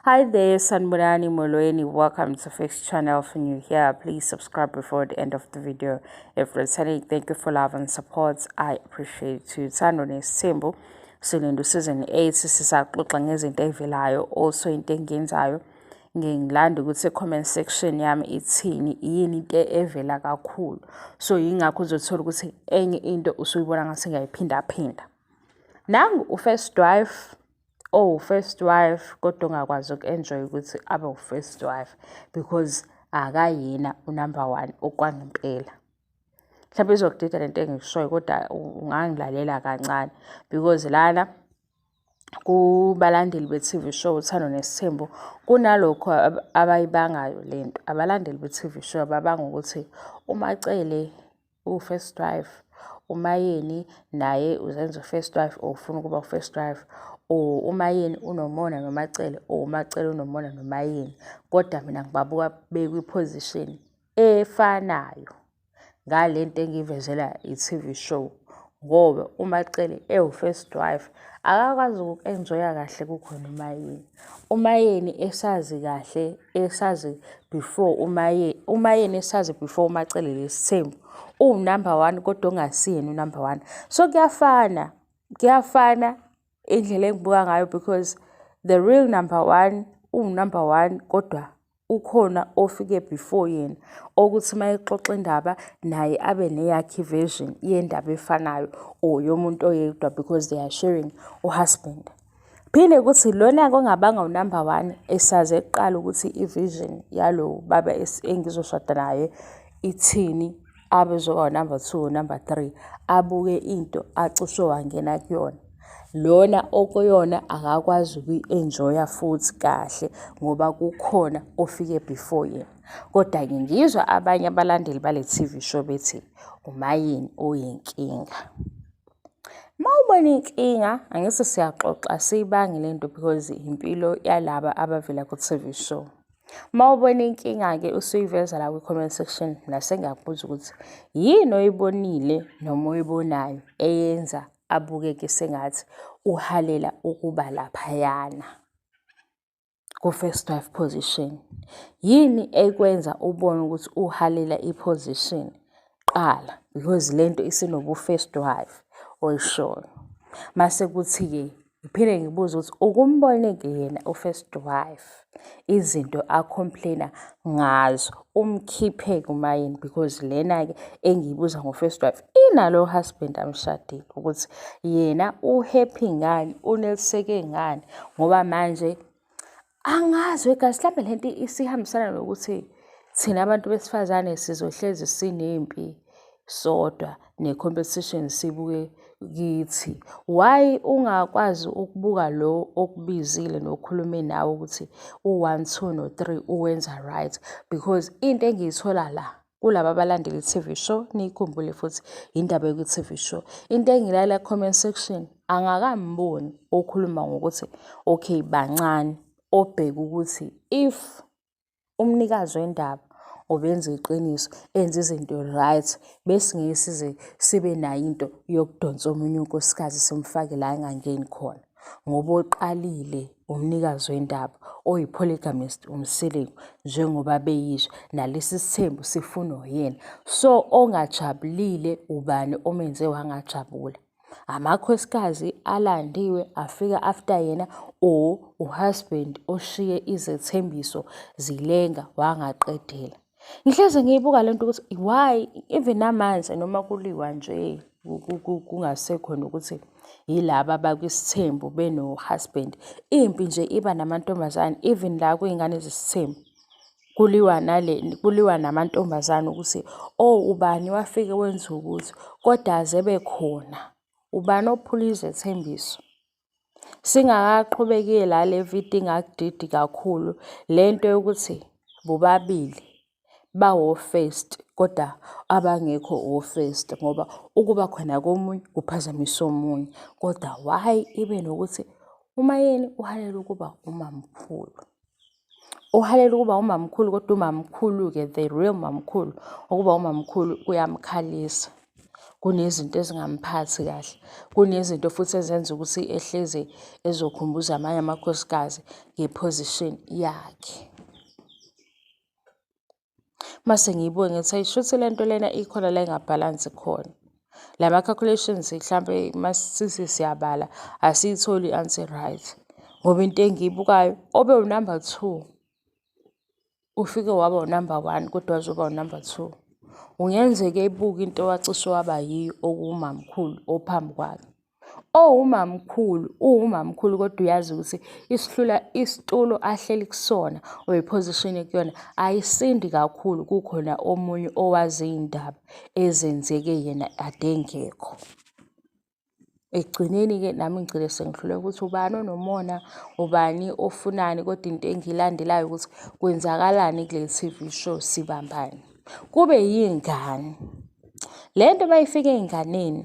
Hi there, Sanburani Molweni. Welcome to Fix Channel. If you're here, please subscribe before the end of the video. If returning, thank you for love and support. I appreciate you. Sandone Simbu. Silindu season 8 sisaxoxa ngezinto evelayo also into engenzayo ngingilanda ukuthi comment section yami ithini yini into evela kakhulu so yingakho uzothola ukuthi enye into usuyibona ngase ngiyayiphinda phinda nangu ufirst wife oh first wife kodwa ongakwazi uku-enjoy ukuthi abe u-first wife because akayena unumber one okwangempela mhlawumbe izokudida le nto engikushoyo kodwa ungangilalela kancane because lana kubalandeli be-TV show uthando nesithembu kunalokho abayibangayo le nto abalandeli be-TV show babanga ukuthi umacele uwufirst wife umayeni naye uzenza ufirst wife or ufuna ukuba ufirst wife or umayeni unomona nomacele or umacele unomona nomayeni kodwa mina ngibabuka bekwiposition efanayo ngale nto engiyivezela i-tv show ngoba uMacele ewu-first wife akakwazi uku-enjoya kahle kukhona umayeni umayeni esazi kahle esazi before umaye umayeni esazi before uMacele lesithembu uwunumber one kodwa ongasiyena unumber one so kuyafana kuyafana indlela engibuka ngayo because the real number one uwunumber one kodwa ukhona ofike before yena okuthi uma exoxa indaba naye abe neyakhe version yendaba efanayo or yomuntu oyedwa because they are sharing uhusband phinde ukuthi lona kongabanga unumber one esaze kuqala ukuthi i-vision yalo baba engizoshada naye ithini abezoba number two number three abuke into acushe wangena kuyona lona okuyona akakwazi ukuyi-enjoya futhi kahle ngoba kukhona ofike before yena kodwa-ke ngizwa abanye abalandeli bale TV show bethi umayini uyinkinga uma ubona inkinga angithi siyaxoxa siyibange le nto because impilo yalaba abavela ku-TV show Uma ubona inkinga-ke usuyiveza la kwi-comment section nase ngiyakubuza ukuthi yini oyibonile noma oyibonayo eyenza abukeke sengathi uhalela ukuba laphayana ku-first wife position. Yini ekwenza ubone ukuthi uhalela i-position qala because le nto isinobu-first wife oyishoyo. Mase kuthi-ke Ngiphinde ngibuze ukuthi ukumboneke yena u-first wife izinto a-complain-a ngazo umkhiphe kumayini because lena-ke engiyibuza ngo-first wife inalo husband amshadile ukuthi yena u-happy ngani, uneliseke ngani ngoba manje Angazi wegazi mhlawumbe le nto isihambisana nokuthi thina abantu besifazane sizohlezi sinempi sodwa ne-competition sibuke kithi. Why ungakwazi ukubuka lo okubizile nokhulume nawe ukuthi u-one, two no-three uwenza right because into engiyithola la kulaba abalandela i-TV show niyikhumbule futhi indaba yoku-TV show into engilala comment section angakamboni okhuluma ngokuthi okay bancane obheka ukuthi if umnikazi wendaba obenza iqiniso enza izinto right bese ngeke size sibe nayo into yokudonsa omunye unkosikazi simfake la engangeni khona ngoba oqalile umnikazi wendaba oyi-polygamist umsiliku njengoba beyisho nalesi sithembu sifunwa uyena so ongajabulile ubani omenze wangajabula amakhosikazi alandiwe afika after yena or uhusband oshiye izethembiso zilenga wangaqedela Ngihlezi ngiyibuka le nto ukuthi why even namanje noma kuliwa nje kungasekhona ukuthi yilaba abakwisithembu beno-husband. Impi nje iba namantombazane even la kwiy'ngane zesithembu. Kuliwa nale kuliwa namantombazane ukuthi o oh, ubani wafike wenza ukuthi, kodwa aze ebekhona. Ubani ophula izethembiso? Singakaqhubeki la le video ingakudidi kakhulu le nto yokuthi bobabili bawo-first kodwa abangekho o-first ngoba ukuba khona komunye kuphazamisa omunye kodwa why ibe nokuthi umayeni uhalela ukuba umamkhulu. uhalela ukuba umamkhulu kodwa umamkhulu-ke the real mamkhulu ukuba umamkhulu kuyamkhalisa kunezinto ezingamphathi kahle kunezinto futhi ezenza ukuthi ehlezi ezokhumbuza amanye amakhosikazi ngeposition yakhe Mase ngiyibuke ngithi ayi shuthi le nto lena ikhona la ingabhalansi khona. La ma-calculations mhlampe masisithi siyabala asiyitholi i-answer right ngoba into engiyibukayo obe unumber two ufike waba unumber one kodwa wazoba unumber two. Kungenzeka ebuka into wacishe waba yiyo okuwumamkhulu ophambi kwakhe. owumamkhulu uwumamkhulu kodwa uyazi ukuthi isihlula isitulo ahleli kusona or iposition ekuyona ayisindi kakhulu kukhona omunye owazi iy'ndaba ezenzeke yena ade engekho ekugcineni-ke nami ngigcine sengihluleka ukuthi ubani onomona ubani ofunani kodwa into engiyilandelayo ukuthi kwenzakalani kuleli TV show sibambani kube yingane le nto uma ifika ey'nganeni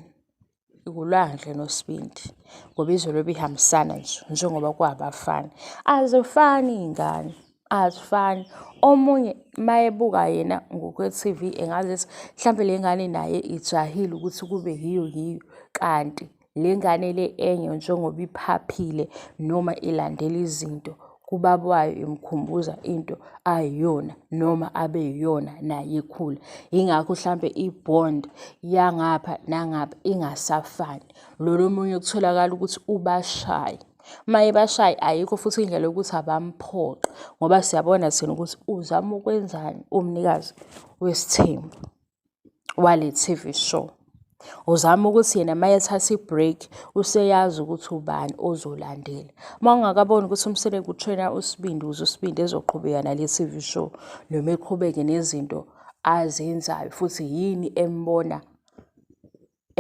ikulwandle nosibindi ngoba izolo ebihambisana nje njengoba kwabafana azifani iy'ngane azifani omunye mayebuka yena ngokwe-TV engazi ethi mhlampe le ngane naye ijahile ukuthi kube yiyo yiyo kanti le ngane le enye njengoba iphaphile noma ilandela izinto kubaba wayo imkhumbuza into ayiyona noma abe yiyona naye ekhula yingakho mhlampe i-bond yangapha nangapha ingasafani lolo omunye kutholakala ukuthi ubashaye uma ebashaye ayikho futhi indlela yokuthi abamphoqe ngoba siyabona thina ukuthi uzama ukwenzani umnikazi wesithembu wale TV show. Uzama ukuthi yena uma ethatha i-break useyazi ukuthi ubani ozolandela. Uma ungakaboni ukuthi umsele kuthena uSibindi ukuze uSibindi ezoqhubeka nale TV show noma eqhubeke nezinto azenzayo futhi yini embona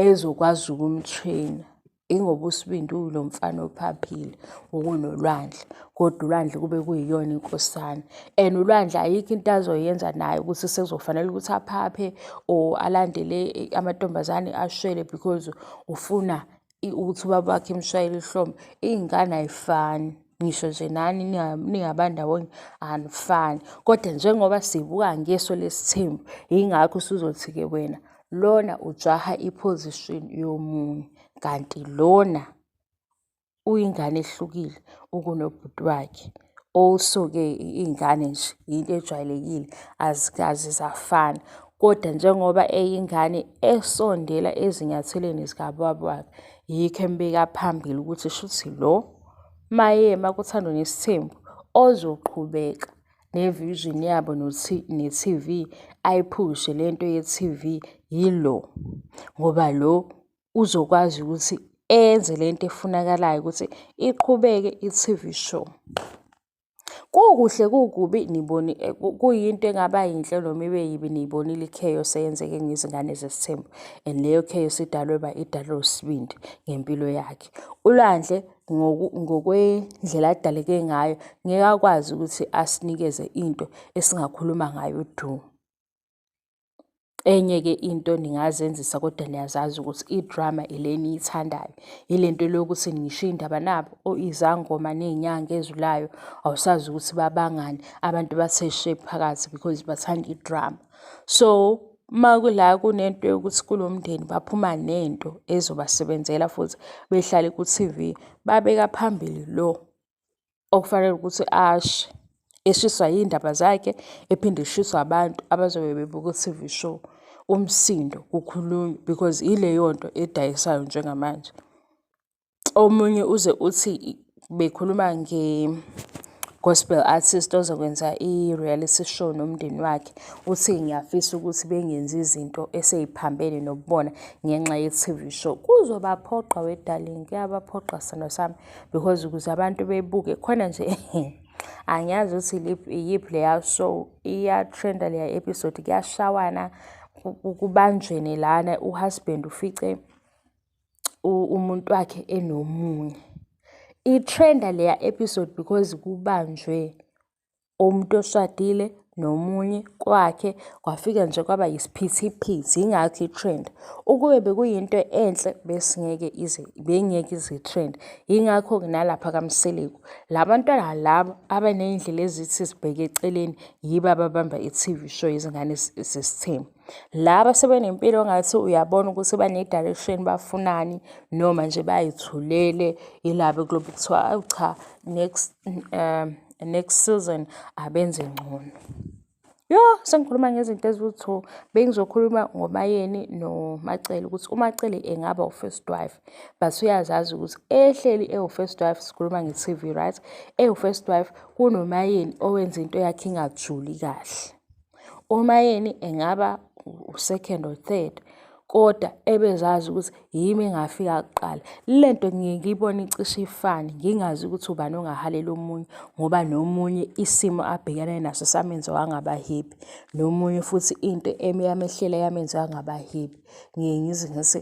ezokwazi ukumthwina ingoba usibindi ulo mfana ophaphile ukunolwandle kodwa ulwandle kube kuyiyona inkosana and ulwandle ayikho into azoyenza naye ukuthi sekuzofanele ukuthi aphaphe or alandele amantombazane ashwele because ufuna ukuthi ubaba wakhe emshayele ihlombe iy'ngane ayifani ngisho nje nani ningaba ndawonye anifani kodwa njengoba sibuka ngeso lesithembu yingakho usuzothi-ke wena lona ujaha iposition yomunye kanti lona uyingane ehlukile ukunobhuti wakhe also-ke iy'ngane nje yinto ejwayelekile azikazi zafana kodwa njengoba eyingane esondela ezinyathelweni zikababa wakhe yikho embeka phambili ukuthi shuthi lo maye makuthandwa nesithembu ozoqhubeka nevision yabo ne-TV ayiphushe le nto ye-TV yilo ngoba lo uzokwazi ukuthi enze le nto efunakalayo ukuthi iqhubeke i-TV show. Kukuhle kukubi niboni eh, kuyinto engaba yinhle noma ibe yibi niyibonile i-chaos eyenzeke ngezingane zesithembu and leyo chaos idalwe ba idalwe usibindi ngempilo yakhe. ULwandle ngokwendlela adaleke ngayo ngeke akwazi ukuthi asinikeze into esingakhuluma ngayo du. Enye-ke into ningazenzisa kodwa niyazazi ukuthi idrama ile eniyithandayo, ile nto le yokuthi ngisho iy'ndaba nabo izangoma ney'nyanga ezulayo awusazi ukuthi babangani, abantu bathe she phakathi because bathanda idrama. So uma kula kunento yokuthi kulo mndeni baphuma nento ezobasebenzela futhi behlale ku-T_V, babeka phambili lo okufanele ukuthi ashe eshiswa yindaba zakhe ephinde eshiswa abantu abazobe bebuka u-TV show umsindo kukhulunywa because ileyo nto edayisayo njengamanje omunye uze uthi bekhuluma nge gospel artist ozokwenza i-reality show nomndeni wakhe uthi ngiyafisa ukuthi bengenzi izinto eseyiphambene nokubona ngenxa ye-TV show kuzobaphoqa wedarling kuyabaphoqa sithando sami because ukuze abantu bebuke khona nje angiyazi ukuthi iyiphi leya show iyatrenda leya episode kuyashawana kubanjweni lana uhusband ufice umuntu wakhe enomunye itrenda leya episode because kubanjwe umuntu oshadile nomunye kwakhe kwafika nje kwaba yisiphithiphithi yingakho i-trend ukube bekuyinto enhle besingeke ize bengeke ize-trend yingakho-ke nalapha kamseleku la bantwana laba abaney'ndlela ezithi zibheke eceleni yibo ababamba i-tv show yezingane zesithembu Laba sebenempilo ongathi uyabona ukuthi bane-direction bafunani noma nje bayithulele ilaba kulobe kuthiwa awu cha next um next season abenze ngcono. Yho sengikhuluma ngezinto eziwu-two bengizokhuluma ngoMayeni noMacele ukuthi uMacele engaba u-first wife but uyazazi ukuthi ehleli ewu-first wife sikhuluma nge-T_V right ewu-first wife kunoMayeni owenza into yakhe ingajuli kahle. Uma yena engaba u-second or third kodwa ebezazi ukuthi yimi engafika kuqala. Le nto ngiye ngiyibone icishe ifane, ngingazi ukuthi ubani ongahalela omunye ngoba nomunye isimo abhekene naso samenza wangaba happy, nomunye futhi into yamehlela yamenza wangaba happy. Ngiye ngize ngithi.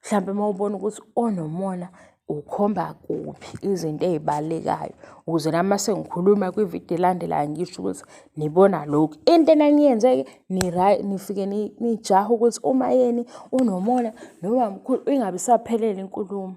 mhlawumbe uma ubona ukuthi onomona ukhomba kuphi izinto ey'balekayo ukuze nami uma sengikhuluma kwividiyo elandelayo ngisho ukuthi nibona lokhu into enaniyenze-ke nifike nijahe ukuthi uma yeni unomona noma mkhulu ingabe isaphelele inkulumo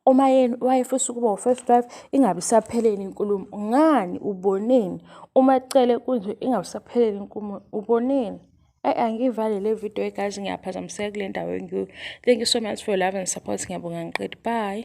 uma yeni wayefisa ukuba u-first wife ingabe isaphelele inkulumo ngani uboneni uma cele kunje ingabe isaphelele inkulumo uboneni Ayi angiyivale le video guys ngiyaphazamiseka kule ndawo engikuyo. Thank you so much for your love and support ngiyabonga ngiqedi. Bye.